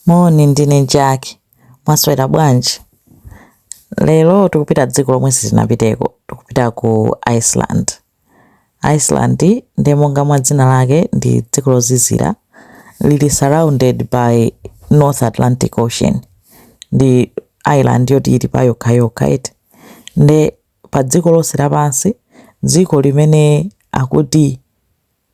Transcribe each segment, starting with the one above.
Moni, ndine Jack. Mwaswera bwanji? Lero tikupita dziko lomwe sitinapiteko. Tikupita ku Iceland. Iceland ndi monga mwa dzina lake ndi dziko lozizira lili surrounded by North Atlantic Ocean. Ndi island yoti ili pa yokha yokha eti. Nde pa dziko lonse lapansi dziko limene akuti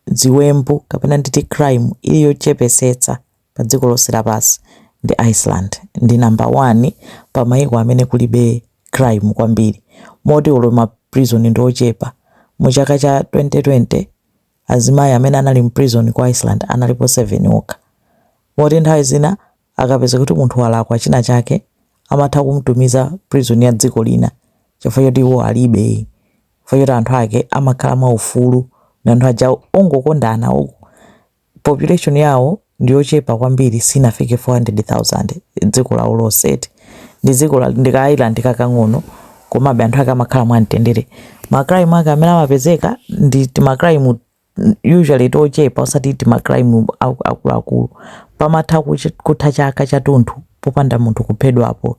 ziwembu kapena nditi crime ili yochepesetsa pa dziko lonse lapansi ndi Iceland ndi number 1 pa maiko amene kulibe crime kwambiri moti olo ma prison ndi ochepa mu chaka cha 2020 azimai amene anali mu prison ku Iceland analipo 7 okha moti nthawi zina akapeza kuti munthu walakwa china chake amatha kumtumiza prison ya dziko lina chifukwa choti iwo alibe chifukwa choti anthu ake amakhala mwa ufulu ndi anthu aja ongokondana population yawo ndiyochepa kwambiri sinafike 400,000 dziko lawo lonse eti ndi dziko la- ndi ka island kakang'ono komabe anthu ake amakhala mwamtendere ma crime ake amene amapezeka ndi tima crime usually tochepa osati tima crime aku- akuluakulu pamatha kuchi- kutha chaka chathunthu popanda munthu kuphedwapo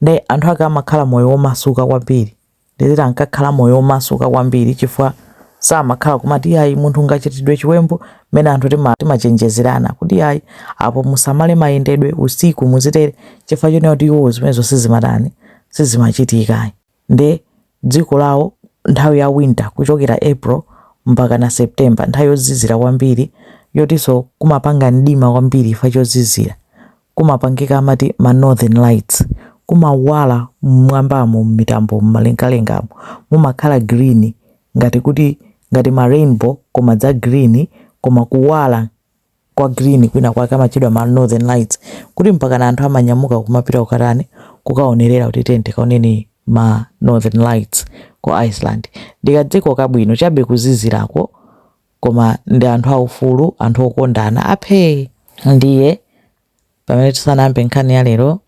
nde anthu ake amakhala moyo womasuka kwambiri nditi ankakhala moyo omasuka kwambiri chifukwa samakhala kumati yayi munthu ngachitidwe chiwembu mmene anthu tima- timachenjezerana kuti yayi apo musamale mayendedwe usiku muzitere chifukwa chonena kuti iwo zimenezo sizimatani sizimachitika nde dziko lawo nthawi ya winter kuchokera april mpaka na september nthawi yozizira kwambiri yotinso kumapanga mdima kwambiri chifukwa chozizira kumapangika amati ma northern lights kumawala mmwambamo mmitambo mmalengalengamo mumakhala green ngati kuti ngati ma rainbow koma za green koma kuwala kwa green kwina kwake amatchedwa ma northern lights kuti mpaka na anthu amanyamuka kumapita kukatani kukaonerera kuti tiyeni tikaone ma northern lights ku iceland ndikadziko kabwino chabe kuzizirako koma ndi anthu aufulu anthu okondana aphee ndiye pamene tisanambe nkhani ya lero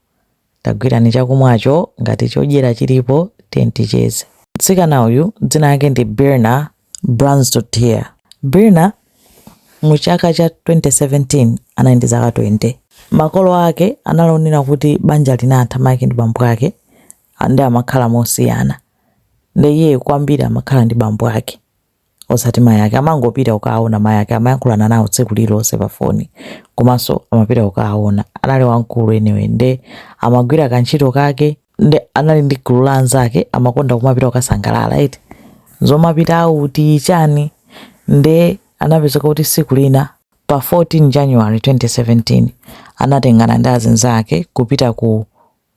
tagwirani chakumwacho ngati chodyera chilipo tiyeni ticheze mtsikana uyu dzina lake ndi birna brjansdottir birna mu chaka cha 2017 anali ndi zaka 20 makolo ake anaonera kuti banja linatha mayi ake ndi bambo ake ndi amakhala mosiyana ndi iye kwambiri amakhala ndi bambo ake osati mayi ake amangopita kukaona mayi ake amayankhulana nawo tsiku lililonse pa foni komanso amapita kukaona anali wamkulu anyway nde amagwira kantchito kake nde anali ndi gulu la anzake amakonda kumapita kukasangalala eti zomapita auti chani nde anapezeka kuti tsiku lina pa 14 january 2017 anatengana ndi azinzake kupita ku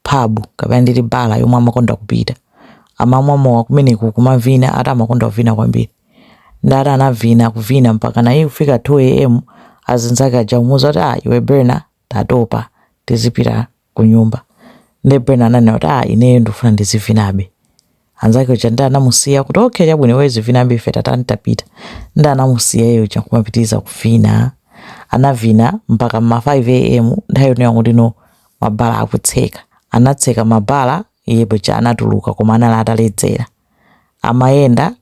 pub kapena nditi bala yomwe amakonda kupita amamwa mowa kumeneko kumavina ati amakonda kuvina kwambiri nde ati anavina kuvina mpakana kufika 2 am azinzake aja kumuuza kuti ah iwe berna tatopa tizipita ku nyumba nde berna ananena kuti ah ineyo ndikufuna ndizivinabe anzake aja nde anamusiya kuti okay chabwino iwe uzivinabe ife tatani tapita nde anamusiya iye uja kumapitiriza kuvina anavina mpaka ma 5 am nthawi yonena kuti no mabala akutseka anatseka mabala iye paja anatuluka koma anali ataledzera amayenda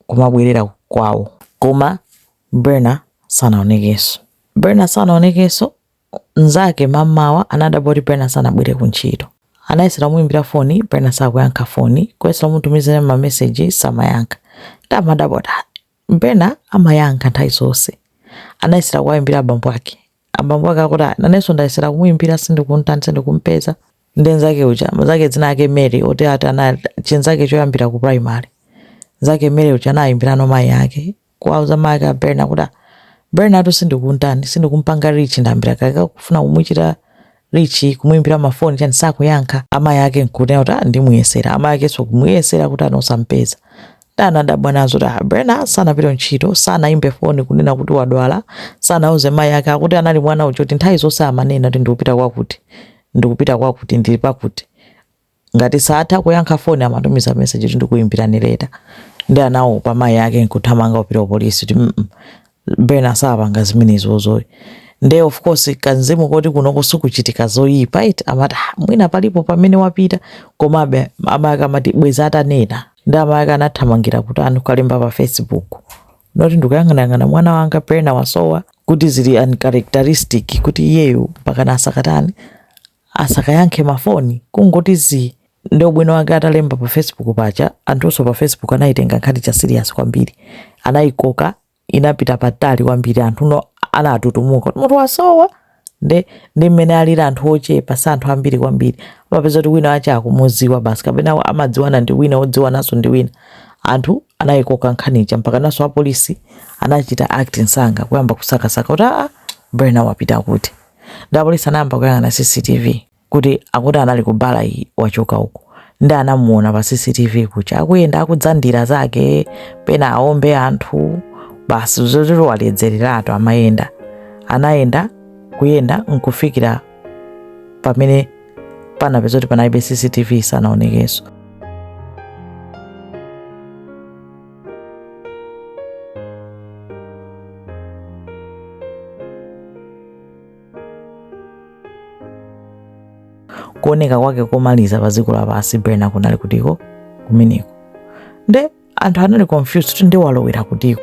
kumabwerera kwawo koma berna sanaonekenso berna sanaonekenso Mnzake mam'mawa anadabwa kuti Berna sanabwere ku ntchito. Anayesera kumuimbira foni, Berna sakuyankha foni, kuyesera kumutumizira ma message samayankha. Nde amadabwa kuti ah, Berna amayankha nthawi zonse. Anayesera kuwaimbira abambo ake. Abambo ake akuti ah, nanenso ndayesera kumuimbira sindikumtani sindikumpeza. Nde mnzake uja, mnzake dzina lake Mary, oti ati anali chinzake choyambira ku primary. Mnzake Mary uja anaimbirano mayi ake, kuwauza mayi ake a Berna kuti "Ah, Bernatu sindikuntani sindikumpanga reach ndayambira kalekale kufuna kumuchita reach kumuimbira mafoni chani sakuyankha amayi ake nkunena kuti "Ah, ndimuyesera amayi akenso kumuyesera kuti ah osampeza nde anadabwa nazo kuti "Ah, Berna sanapita ntchito sanaimbe foni kunena kuti wadwala sanauze mayi ake akuti anali mwana uja kuti nthawi zonse amanena kuti ndikupita kwakuti ndikupita kwakuti ndili pakuti Ngati saatha kuyankha foni amatumiza message kuti ndikuimbirani later. Nde anaopa mayi ake nkuthamanga kupita ku police kuti mm Berna saapanga zimenezo ayi. Nde of course kamzimu koti kunoko sikuchitika zoyipa eti amati ah mwina palipo pamene wapita komabe amayi ake amati bwezi atanena. Nde amayi ake anathamangira kutani kukalemba pa facebook note ndikuyang'anayang'ana mwana wanga Berna wasowa kuti zili uncharacteristic kuti iyeyu mpakana asakatani asakayankhe ma foni kungoti zii nde ubwino wake atalemba pa facebook paja anthunso pa facebook anayitenga nkhani ija serious kwambiri anayikoka inapita patali kwambiri anthuno anatutumuka kuti munthu wasowa nde ndi mmene alili anthu ochepa si anthu ambiri kwambiri amapeza kuti wina wake akumudziwa basi kapena amadziwana ndi wina odziwananso ndi wina anthu anayikoka nkhani ija mpakanaso apolisi anachita act nsanga kuyamba kusakasaka kuti aa berna wapita kuti Dapolisi anayamba kuyang'ana CCTV kuti akuti anali ku bala iyi wachoka uko ndi anamuona pa CCTV kuja akuyenda akudzandira zake pena aombe anthu basi zoti waledzereratu amayenda anayenda kuyenda nkufikira pamene panapeza kuti panalibe CCTV sanaonekenso kuoneka kwake komaliza pa dziko lapansi Birna kunali kutiko kumeneko nde anthu anali confused kuti nde walowera kutiko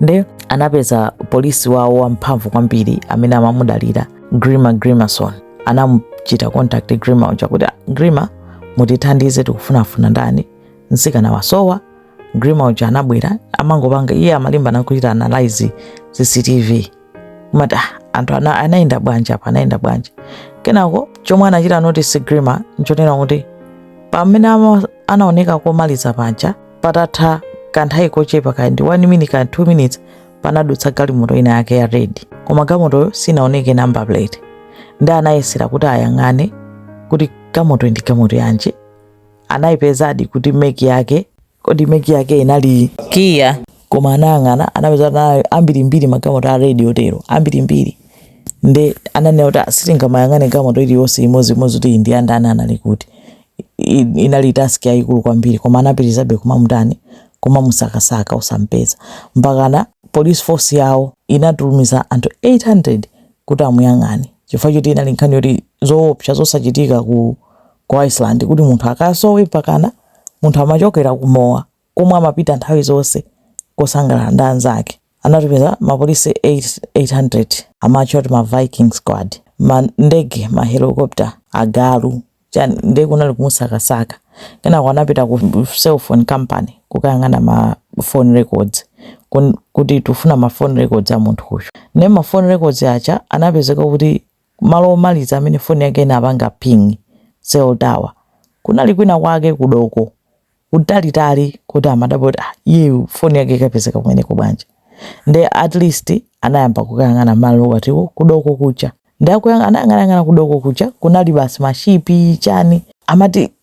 nde anapeza polisi wawo wamphamvu kwambiri amene amamudalira grima Grimsson anamuchita contact grima uja kuti "Ah, grima mutithandize tikufunafuna ndani mtsikana wasowa grima uja anabwera amangopanga iye amalimbana kuchita analyze cctv kumati anthu anayenda bwanji apa anayenda bwanji kenako chomwe anachita notice grima nchonena kuti pamene anaoneka komaliza paja patatha kanthawi kochepa kaya ndi 1 minute kaya 2 minutes panadutsa galimoto ina yake ya red koma galimotoyo sinaoneke number plate ndi anayesera kuti ayang'ane kuti galimoto ndi galimoto yanji anayipezadi kuti meki yake Kodi meki yake inali Kia? Koma anayang'ana anapeza kuti anali ambirimbiri magalimoto a red otero ambirimbiri, nde ananena kuti "Ah, sitingamayang'ane galimoto iliyonse imodziimodzi kuti iyi ndi ya ndani, anali kuti. I- i- inali task yayikulu kwambiri koma anapitirizabe kumamutani kumamusakasaka osampeza mpakana police force yawo inatumiza anthu 800 kuti amuyang'ane chifukwa choti inali nkhani yoti zoopsa zosachitika ku Ku Iceland kuti munthu akasowe mpakana munthu amachokera ku mowa komwe amapita nthawi zonse kusangalala ndi anzake, anatumiza mapolisi 800 amatchedwa kuti ma Viking Squad, ndege, ma helicopter, agalu, nde kunali kumusakasaka, kenako anapita ku cell phone company kukayang'ana ma phone records kuti tikufuna ma phone records a munthu uyu, nde ma phone records aja anapezeka kuti. Malo omaliza amene foni yake inapanga ping, cell tower, kunali kwina kwake ku doko kutalitali koti amadabwa kuti ah iyeyu foni yake ikapezeka kumeneko bwanji? Nde at least anayamba kukayang'ana malo atiwo ku doko kuja. Nde akuyang, anayang'anayang'ana ku doko kuja kunali basi ma ship chani. Amati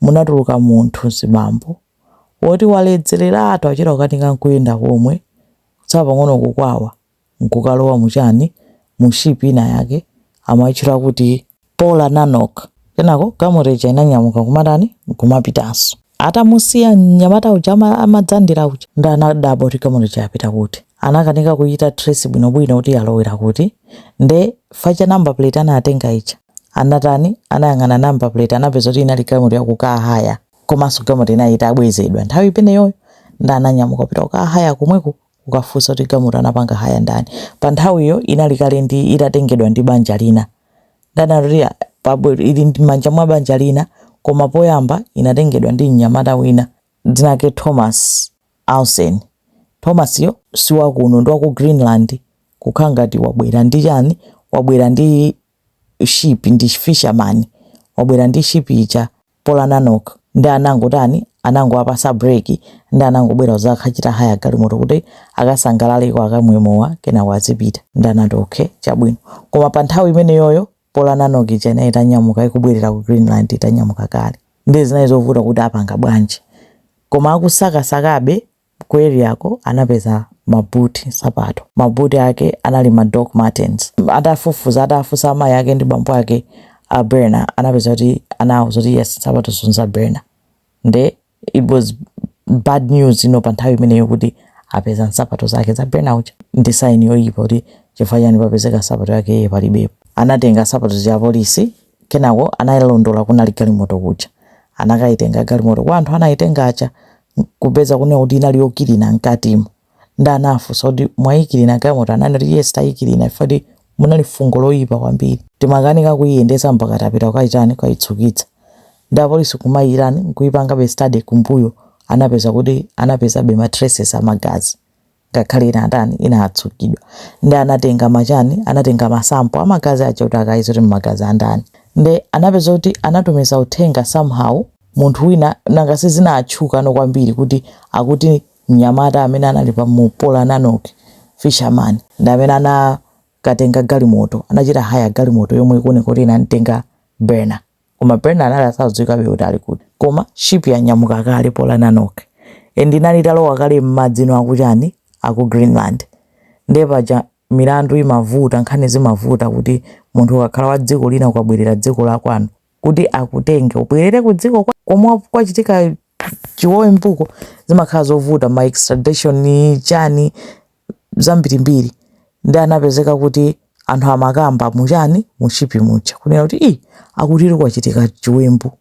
munatuluka munthu mzibambo woti waledzeleratu akuchita kukanika nkuyenda komwe kutsala pang'ono kukwawa nkukalowa mu chani mu ship ina yake amaitchula kuti Polar Nanoq kenako galimoto ija inanyamuka kumatani nkumapitanso atamusiya mnyamata uja amadzandira uja nde anadabwa kuti galimoto ija yapita kuti anakanika kuchita trace bwinobwino kuti yalowera kuti nde chifukwa cha number plate anatenga ija Anatani? Anayang'ana number plate anapeza kuti inali galimoto ya ku car hire komanso galimoto inali itabwezedwa nthawi imeneyoyo nde ananyamuka kupita ku car hire komweko kukafunsa kuti galimoto anapanga hire ndani. Pa nthawiyo inali kale ndi itatengedwa ndi banja lina nde anatoria pabwe ili m'manja mwa banja lina koma poyamba inatengedwa ndi mnyamata wina dzina lake Thomas Olsen. Thomas yo si wakuno ndi wa ku Greenland kukhala ngati wabwera ndi chani wabwera ndi ship ndi fisherman wabwera ndi ship ija Polar Nanoq nde anangotani anangowapasa break nde anangobwera kuzakachita hire galimoto kuti akasangalaleko akamwe mowa kenako azipita nde anati okay chabwino koma pa nthawi imeneyoyo Polar Nanoq ija inali itanyamuka ikubwerera ku greenland itanyamuka kale nde zinali zovuta kuti apanga bwanji koma akusakasakabe Ku areako anapeza ma boot, nsapato. Ma boot ake anali ma Doc Martens. Atafufuza, atafunsa amayi ake ndi bambo ake a Birna anapeza kuti anawauza kuti yes nsapatozo nza Birna. Nde it was bad news you know pa nthawi imeneyo kuti apeza nsapato zake za Birna uja. Ndi sign yoyipa kuti chifukwa chani papezeka nsapato yake iye palibepo. Anatenga nsapato zija apolisi Kenako anayilondola kunali galimoto kuja anakayitenga galimoto kwa anthu anayitenga aja nkupeza kunena kuti inali yokilina mkatimo nde anawafunsa kuti mwayikilina galimoto ananena kuti yes tayikilina chifukwa choti munali fungo loyipa kwambiri timakanika kuyiyendetsa mpaka tapita kukayitani kukayitsukitsa nde apolisi kumayitani nkuyipangabe study kumbuyo anapeza kuti anapezabe ma traces amagazi. ngakhale inatani inatsukidwa nde anatenga machani anatenga masampo amagazi aja kuti akayeze kuti mmagazi andani nde anapeza kuti anatumiza uthenga somehow munthu wina nanga sizinatchukano kwambiri kuti akuti mnyamata amene anali pa mu Polar Nanoq fisherman ndi amene anakatenga galimoto anachita hire galimoto yomwe ikuoneka kuti inamtenga Birna koma Birna anali asadziwikabe kuti ali kuti koma ship yanyamuka kale Polar Nanoq and inali italowa kale m'madzimo akuchani aku Greenland ndiye paja milandu imavuta nkhani zimavuta kuti munthu ukakhala wa dziko lina ukabwerera dziko la kwanu kuti akutenge ubwerere ku dziko kwa- komwe kwachitika chiwembuko zimakhala zovuta ma extradition chani zambirimbiri ndi anapezeka kuti anthu amakamba muchani mushipi muja kunena kuti i akutiri kwachitika chiwembu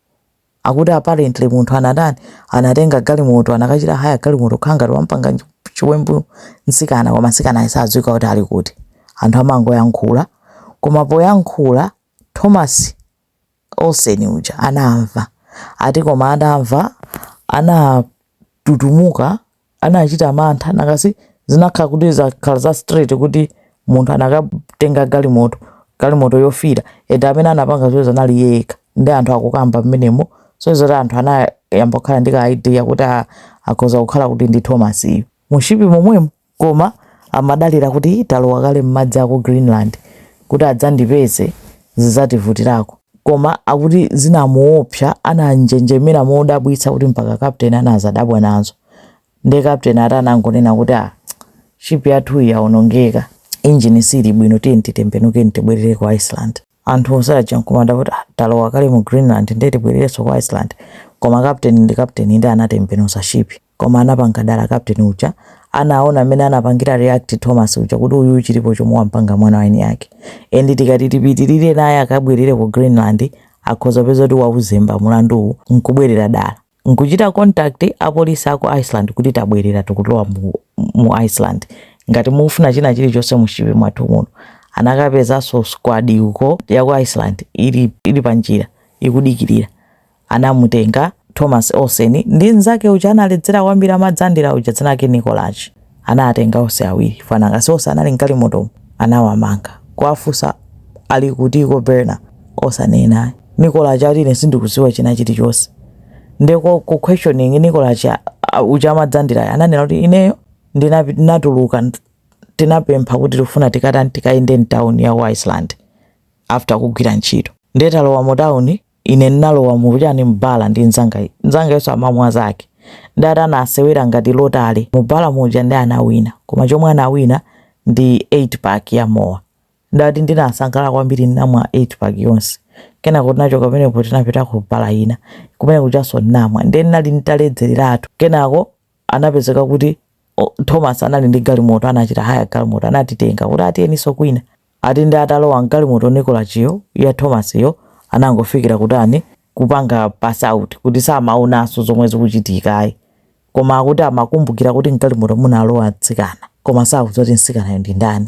akuti apparently munthu anatani anatenga galimoto anakachita haya galimoto kaya ngati wampanga chiwembu mtsikana koma mtsikana asadziwika kuti ali kuti anthu amangoyankhula koma poyankhula thomas Olsen uja anamva ati koma atamva anatutumuka anachita mantha nanga si zinakhala kuti zakhala za straight kuti munthu anakatenga galimoto galimoto yofira ende amene anapanga zoterozo anali yekha ndi anthu akukamba mmenemo so zati anthu anayamba kukhala ndi ka idea kuti a- akhoza kukhala kuti ndi Thomasyu mushipi momwemo Koma amadalira kuti talowa kale mmadzi aku Greenland kuti adzandipeze zidzativutirako koma akuti zinamuopsa ananjenjemera modabwitsa kuti mpaka captain anadzadabwa nazo nde captain atanangonena kuti ah ship yathuyi yaonongeka engine siili bwino tiyeni titembenukeni tibwerere ku Iceland. Anthu onse aja nkumadabwa kuti ah, talowa kale mu Greenland ndiye tibwererenso ku Iceland. Koma kapteni ndi kapteni ndiye anatembenuza ship. Koma anapanga dala kapteni uja. Anaona mmene anapangira react Thomas uja kuti uyuyu chilipo chomwe wampanga mwana wa eni ake. And tikati tipitirire naye akabwerere ku Greenland akhoza kupeza kuti wauzemba mulanduwu nkubwerera dala. nkuchita contact apolisi aku Iceland kuti tabwerera tikulowa mu mu Iceland ngati mukufuna china chilichonse muship mwathu muno anakapezanso squadi yaku Iceland ili ili pa njira ikudikirira anamutenga Thomas Olsen ndi mnzake uja analedzera kwambiri amadzandira uja dzina lake Nikolaj. anawatenga onse awiri chifukwa nanga si onse anali mgalimotomo? Anawamanga, kuwafunsa Ali kutiko Birna osanena ayi. Nikolaj ati ine sindikudziwa china chili chonse nde ku ku questioning Nikolaj uja amadzandirayo ananena kuti ineyo ndinatuluka tinapempha kuti tikufuna tikatani tikayende mtown ya ku Iceland after kugwira ntchito nde talowa mu town Ine ndinalowa mu chani mu bala ndi nzanga nzangayonso amamwa zake ndi ati anasewera ngati lottery mu bala muja ndi anawina koma chomwe anawina ndi 8 pack ya mowa ndi ati ndinasangalala kwambiri ndinamwa 8 pack yonse kenako tinachoka pamenepo tinapita ku bala ina kumene kujanso ndinamwa ndiye ndinali nditaledzereratu kenako anapezeka kuti o, thomas anali ndi galimoto anachita haya galimoto anatitenga kuti ah tiyeninso kwina ati ndi atalowa mgalimoto Nikolajiyo ya thomasiyo anangofikira kutani kupanga pass out kuti samaonanso zomwe zikuchitikayi koma akuti amakumbukira kuti mgalimoto munalowa mtsikana koma sakudziwa kuti mtsikanayo ndi ndani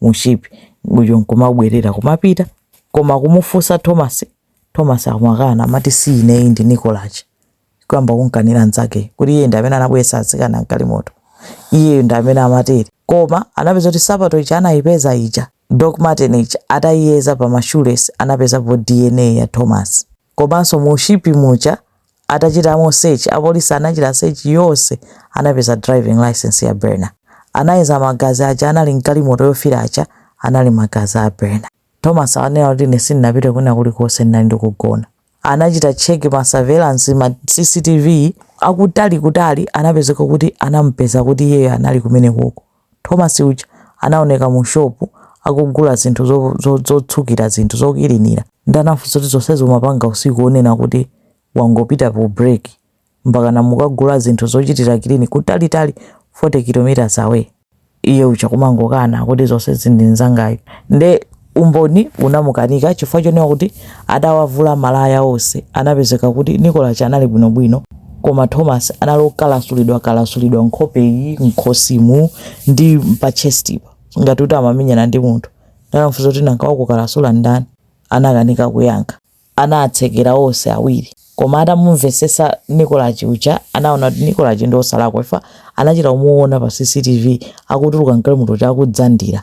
mu ship muja nkumabwerera kumapita koma kumufunsa Thomas Thomas akumakana amati si ineyi ndi Nikolaj kuyamba kunkanira nzake kuti iye ndi amene anabweretsa atsikana mgalimoto iye ndi amene amatere koma anapeza kuti sapato ija anayipeza ija Doc Martin ija atayiyeza pa ma shoelace anapezapo DNA ya Thomas Komanso mu ship muja atachitamo search apolisi anachita search yonse anapeza driving licence ya Birna. Anayeza magazi aja anali mgalimoto yofira aja anali magazi a Birna. Thomas ananena kuti ine sindinapite kwina kulikonse ndinali ndikugona. Anachita check ma surveillance ma CCTV akutali kutali anapezeka kuti anamupeza kuti iyeyo anali kumenekoko. Thomas uja anaoneka mu shop akugula zinthu zotsukira zinthu, zokilinira nde anamufunsa kuti zonsezi umapanga usiku onena kuti wangopita pa break mpakana mukagula zinthu zochitira clean kutalitali 40 km away? Iye uja kumangokana kuti zonsezi ndi nzangayu nde. Umboni unamukanika chifukwa chonena kuti atawavula malaya onse anapezeka kuti Nikolaj anali bwinobwino koma Thomas anali okalasulidwa kalasulidwa nkhope iyi mkhosimu ndi pa chestipa ngati kuti amamenyana ndi munthu nde anamfunsa kuti nanga wakukalasula ndani anakanika kuyankha anatsekera onse awiri koma atamumvesesa Nikolaj uja anaona kuti Nikolaj ndi osalakwa chifukwa anachita kumuona pa CCTV akutuluka mgalimoto ija akudzandira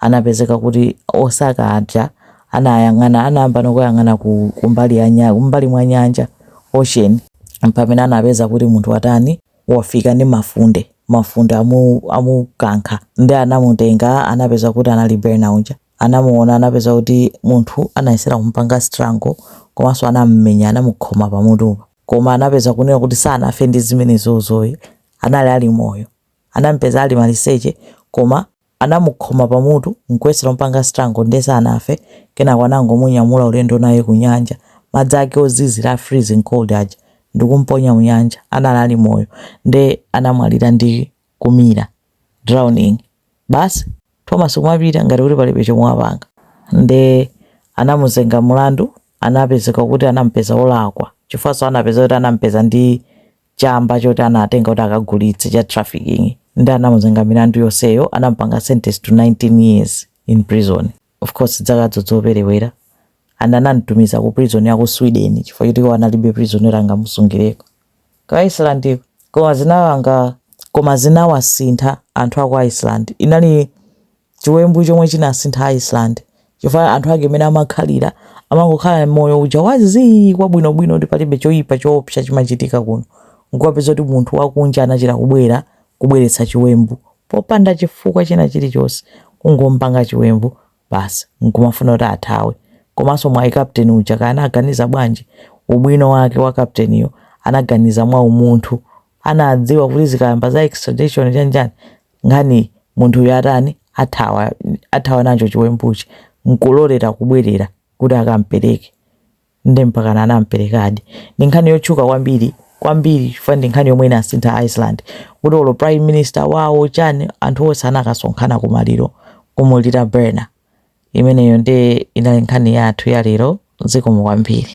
anapezeka kuti osaka aja anayang'ana anayambano kuyang'ana ku kumbali ya nya kumbali mwa nyanja ocean mpamene anapeza kuti munthu watani wafika ndi mafunde mafunde amu amukankha nde anamutenga anapeza kuti anali Birna uja anamuona anapeza kuti munthu anayesera kumupanga strangle komanso anammenya anamukhoma pamutupa koma anapeza kunena kuti sanafe ndi zimenezozo ayi anali ali moyo anampeza ali maliseche koma Anamukhoma pamutu n'kuyesera kumupanga strangle ndiye sanafe, kenako anangomunyamula ulendo naye kunyanja, madzi ake ozizira a freezing cold aja, ndikumuponya munyanja. Anali ali moyo, nde anamwalira ndi kumira, drowning basi. Thomas kumapita ngati kuti palibe chomwe wapanga. Nde anamuzenga mulandu, anapezeka kuti anamupeza olakwa chifukwanso anapeza kuti anamupeza ndi chamba choti anatenga kuti akagulitse cha trafficking nde anamuzenga milandu yonseyo anamupanga sentence to 19 years in prison of course zakazo zoperewera and anamtumiza ku prison ya ku sweden chifukwa choti iwo analibe prison yoti angamusungireko ku iceland koma zinawanga koma zinawasintha anthu a ku iceland inali chiwembu chomwe chinasintha Iceland chifukwa anthu ake mmene amakhalira amangokhala moyo uja wa zii kwabwinobwino kuti palibe choyipa choopsa chimachitika kuno nkupeza kuti munthu wakunja anachita kubwera kubweretsa chiwembu popanda chifukwa china chilichonse kungopanga chiwembu basi nkumafuna kuti athawe komanso mwayi captain uja kaya anaganiza bwanji ubwino wake wa captainiyo anaganiza mwa umunthu anadziwa kuti zikayamba za extradition chanjani nkhaniyi munthuyu atani athawa athawa nacho chiwembuchi nkulolera kubwerera kuti akampereke nde mpakana anamperekadi ndi nkhani yotchuka kwambiri kwambiri chifukwa ndi nkhani yomwe inasintha iceland kuti olo prime minister wawo chani anthu onse anakasonkhana kumaliro kumulira Birna imeneyo nde inali nkhani yathu ya lero zikomo kwambiri